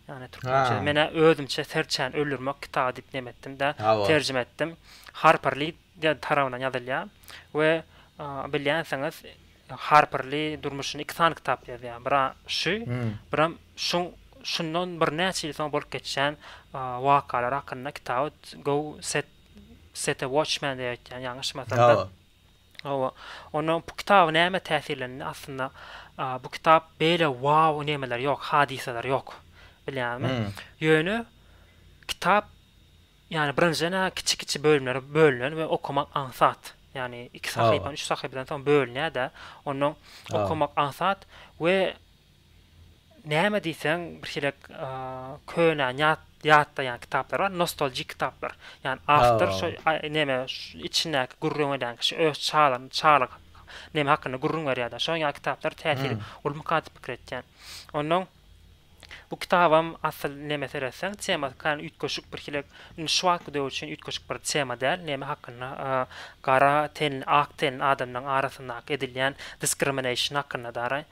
Ýani türkmençe men özümçe serçäni öldürmek kitaby diýip neme etdim-de terjime etdim. Harper Lee tarapyndan ýazylýar we bilýänsiňiz Harper Li durmuşyny iki sany kitap ýazýar. Biri şu, birem şuň şundan birnäçe ýyl soň bolup geçýän wakalar hakynda kitaby Go Set Set a Watchman diýip aýtýan, ýalňyşmasam-da. Hawa. Onda bu kitaby näme täsirlendi? Aslynda bu kitap beýle wow nemeler ýok, hadysalar ýok. Bilýäňmi? Ýöne kitap Ýagny birinjiden a kiçi-kiçi bölümlere bölünen we okamak aňsat. Ýagny iki sahypany üç sahypadan soň bölünýär-de, onnoň okamak aňsat we näme diýseň birhilek köne ýatlaýan kitaplar bar, nostoljik kitaplar. Ýagny awtor şo neme içindäki gürrüň edýän kişi öz çalan çalyk neme hakynda gürrüň berýär-de, şoň ýaly kitaplar täsiri uly mukadip pikir etýän. Onnoň Bu kitabam asyl neme seretseň temasy kän üýtgeşik birhilek indi şu wagtky döwür üçin üýtgeşik bir tema däl neme hakynda gara tenli ak tenli adamlaň arasyndaky edilýän diskrimination hakynda dara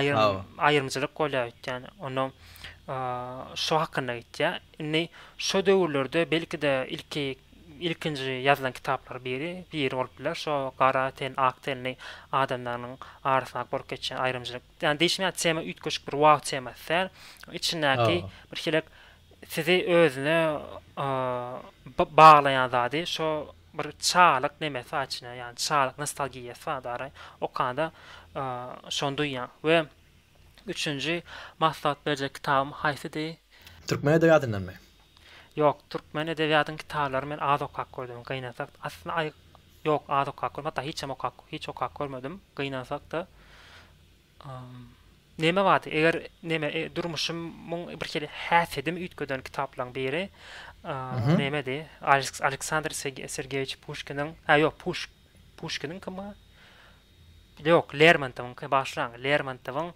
aýrym aýrymcylyk bolýa öýtýän onda şo hakynda gitýä indi şo döwürlerde belkide ilki ilkinji ýazylan kitaplar biri biri bolup biler şo gara ten ak tenli adamlarynyň arasyndaky bolup geçýän aýrymcylyk Ýani diýşime tema üýtgeşik bir wow temasy däl. Içindäki bir hilik sizi özüne baglaýan zady şo bir çagalyk nemesi bar içinde ýani çagalyk nostalgiýasy bar dara okanda şony duýýaň. We üçünji maslahat berjek kitabym haýsydy? Türkmen edebiýatyndanmy? Ýok, türkmen edebiýatynyň kitaplaryny men az okap gördüm, gynansak, aslynda aý, ýok, az okap gördüm, hatda hiçem okap, hiç okap görmedim, gynansak-da, ym, näme bardy, eger, näme, e, durmuşym, myň bir hili häsiýedimi üýtgeden kitaplaryň biri, a, Mhm. nämedi, Aleks, Aleksandr Seg, Sergeýewiç Puşkiniň, hä, ýok, Puş, Puşkiniňkima? Ýok, Lermontowyňky, bagyşlaň, Lermontowyň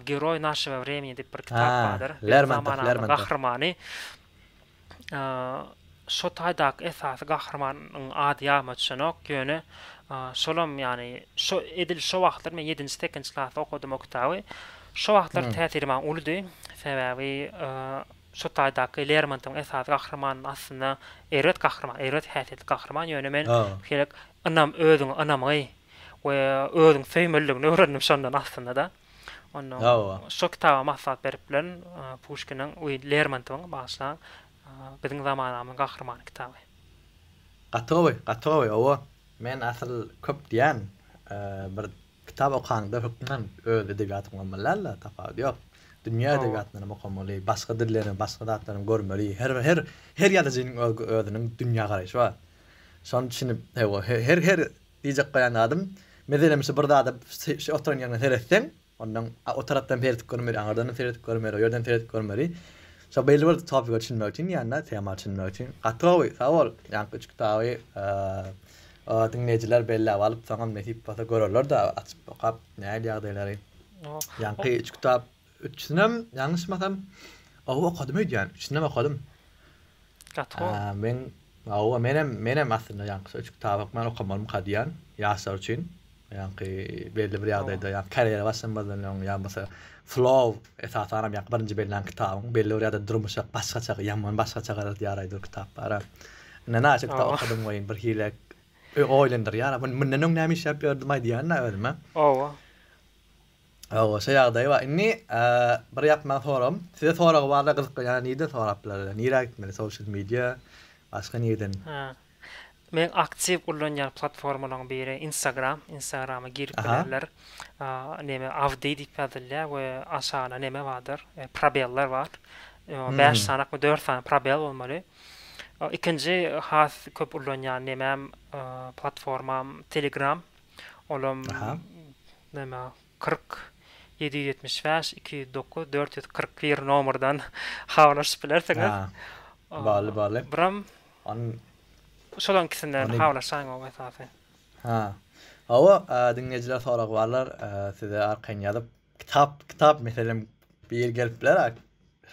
Geroý našego vremeni diýip bir kitap bardyr. Biziň zamanamyzyň gahrymany. Şo taýdaky esasy gahrymanyň ady ýadyma düşenok, ýöne şolam ýagny şo edil şo wagtlar men ýedinji sekizinji klasda okadym o kitaby. Şo wagtlar täsiri maňa uludy. Sebäbi Şu taýdaky Lermontyň esasy gahrymanyny aslynda erbet gahryman, erbet häsiýetli gahryman, ýöne men şeýlek ynam, özüňe ynamgy we özüňi söýmeliligini öwrendim şondan aslynda-da. Onnoň şo kitaba maslahat berip bilen Puşkiniň, we Lermontowyň, bagyşlaň, Biziň zamanamyzyň gahrymany kitaby. Gaty gowy, gaty gowy, owo. Men asyl köp diýän, bir Kitap okaňda hökman öz edebiýatyňy okumalaýal-da, tapawudy ýok. Dünýä edebiýatyndanam okamaly, başga dillerini, başga zatlaram görmeli. Her her her ýazyjynyň öz özüniň dünýä garaýşy bar. Şony düşünip, hawa, he her her diýjek goýan zadym, meselem, şu bir zada şu oturan ýeriňe seretseň, ondan a o tarapdan seredip görmeli, aňyrdanam seredip görmeli, o ýerden seredip görmeli. Şo belli bir topika düşünmek üçin ýa-da tema düşünmek üçin. Gaty gowy, sag bol, ýaňky üç kitaby, diňleýjiler belläp alyp, soňam nesip bolsa görerler-de, açyp okap, nähili ýagdaýlary. Ýaňky üç kitap, üçüsinem, ýalňyşmasam, oba okadym öýdýän, üçüsinem okadym. Gaty gowy. Men, hawa, menem, menem aslynda ýaňky şu üç kitaby men okamalymyka diýýän, ýaşlar üçin. Ýaňky belli bir ýagdaýda ýa karýera başlamazdan öň ýa bolsa flow esasanam ýa birinji bellän kitabyň belli bir ýagdaýda durmuşa başgaça ýaman başgaça garaýar aýdyr kitap bara. Ine naşe kitap okadym goýun bir hile oýlandyrýar. Mun mundan öň näme işläp ýördüm aýdýan-da özüme. Owa. Owa şo ýagdaý bar. Indi bir ýapma soragym. Size soragy barla gyzyklanýan nireden sorap bilerler? Nirä gitmeli? Social media başga nireden? Hä. Meň aktiw ullanýan platformalaryň biri Instagram. Instagrama girip bilerler. Neme Avdy diýip ýazylýar we aşagynda neme bardyr, probeller bar. Bäş sanakmy, dört sany probel bolmaly. Ikinji has köp ullanýan nemem, platformam Telegram. Olam neme kyrk, ýedi ýüz ýetmiş bäş, iki ýüz dokuz, dört ýüz kyrk bir nomerden habarlaşyp bilersiňiz. Bally, bally. Buram Ony Şolaň ikisinden Ony- habarlaşaýyň o esasy. Ha. Hawa, e, diňleýjiler soragy barlar, e, size arkaýyn ýazyp, kitap, kitap meselem bir gelip biler, a,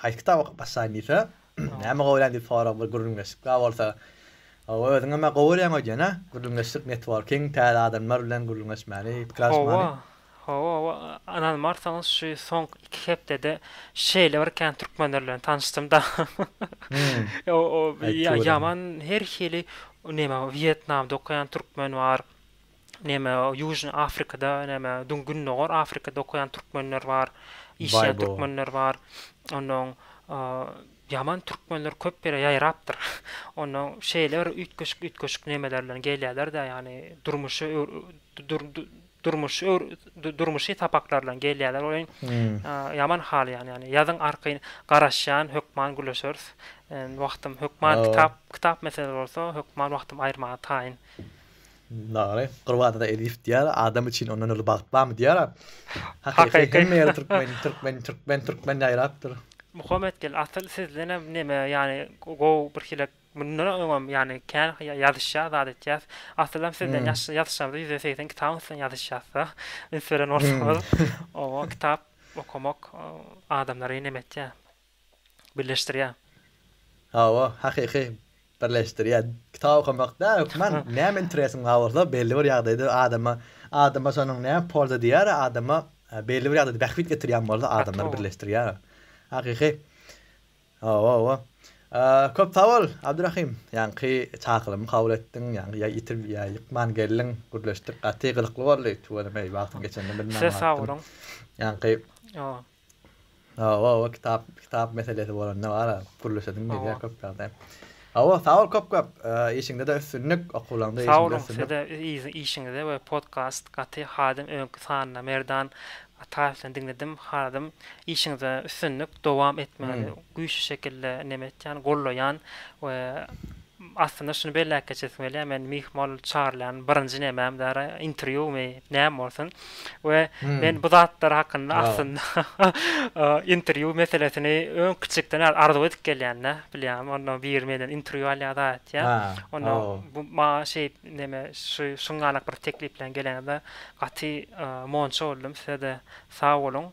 haýsy kitaby okyp başlaýyn diýse, näme gowulaýyn diýip sorag bir gürrüňdeşlik bä bolsa. Hawa, özüň hem-ä gowy görýäň öýdýän-ä, gürrüňdeşlik, networking, täze adamlar bilen gürrüňdeşmäni, pikir alyşmany. Hawa. Hawa hawa ynanmarsaňyz şu soňky iki hepdede şeýle bir kän türkmenler bilen tanyşdym da. Ýaman her hili neme Wýetnamda okaýan türkmen bar. Neme Ýužnyý Afrikada neme Gündogar Afrikada okaýan türkmenler bar. Işleýän türkmenler bar. Onnoň ýaman türkmenler köp ýere ýaýrapdyr. Onnoň şeýle bir üýtgeşik üýtgeşik nemeler bilen gelýärler-de ýagny durmuşy durmuş öwr durmuşy sapaklardan gelýärler oýun ýaman hal ýany ýany ýazyň arkaýyn garaşýan hökman gürleşeris wagtym hökman kitap kitap mesele bolsa hökman wagtym aýyrmaga taýyn Dogry. Gurbada Elif diýýär, adam üçin ondan uly bagt barmy diýýär. Hakyky hemme ýerde türkmen, türkmen, türkmen, türkmen ýaýrapdyr. Muhammet gel, asyl sizdenem neme, ýany gowy birhili Mundan öňem, ýagny, kän ýazyşýas, zat etýäs. Asylam sizden ýaş ýazyşlarymyzda ýüz segsen kitabyň üstünden ýazyşýasda. Üns beren bolsaňyz, oňa kitap okamak adamlary näme etýär? Birleşdirýär. Hawa, hakyky, birleşdirýär. Kitap okamakda hökman näme interesiň bar bolsa, belli bir ýagdaýda adama, adama şonuň näme polza diýýär, adama belli bir ýagdaýda bähbit getirýän bolsa, adamlary birleşdirýär. Hakyky. Hawa-hawa. Köp sag bol, Abdyrahym. Ýaňky çakylamy kabul etdiň, ýaňky ýa ýitip, ýa ýykman geldiň, gürleşdik, gaty gyzykly boldy. Tüweleme, wagtyň geçenini bilmän Size sag galypdym. boluň. Ýaňky Hawa. Hawa-hawa, kitap, kitap meselesi bolanda bar-a, gürleşesiň gelýär köp ýagdaý. Hawa sag bol köp köp işiňdede üstünlik okuwlaňda işiňde üstünlik. Sag boluň size we işiňize we podcast gaty hadym öňki sanyny Merdan Ataýewden diňledim haladym işiňde üstünlik dowam etmegini güýçli şekilde neme etýän gollaýan we aslynda şuny belläp geçesim gelýär men myhmal çagyrylýan birinji nemäm dara interwýumy näme bolsun we men bu zatlar hakynda aslynda interwýu meselesini öň kiçikden arzuw edip gelýän-de, bilýäňmi? Onda biri menden interwýu alýar-da aýtýar. Onda bu maňa şeýip näme şu şuňňalak bir teklip bilen geleniňizde gaty monça boldum. Size-de sag boluň.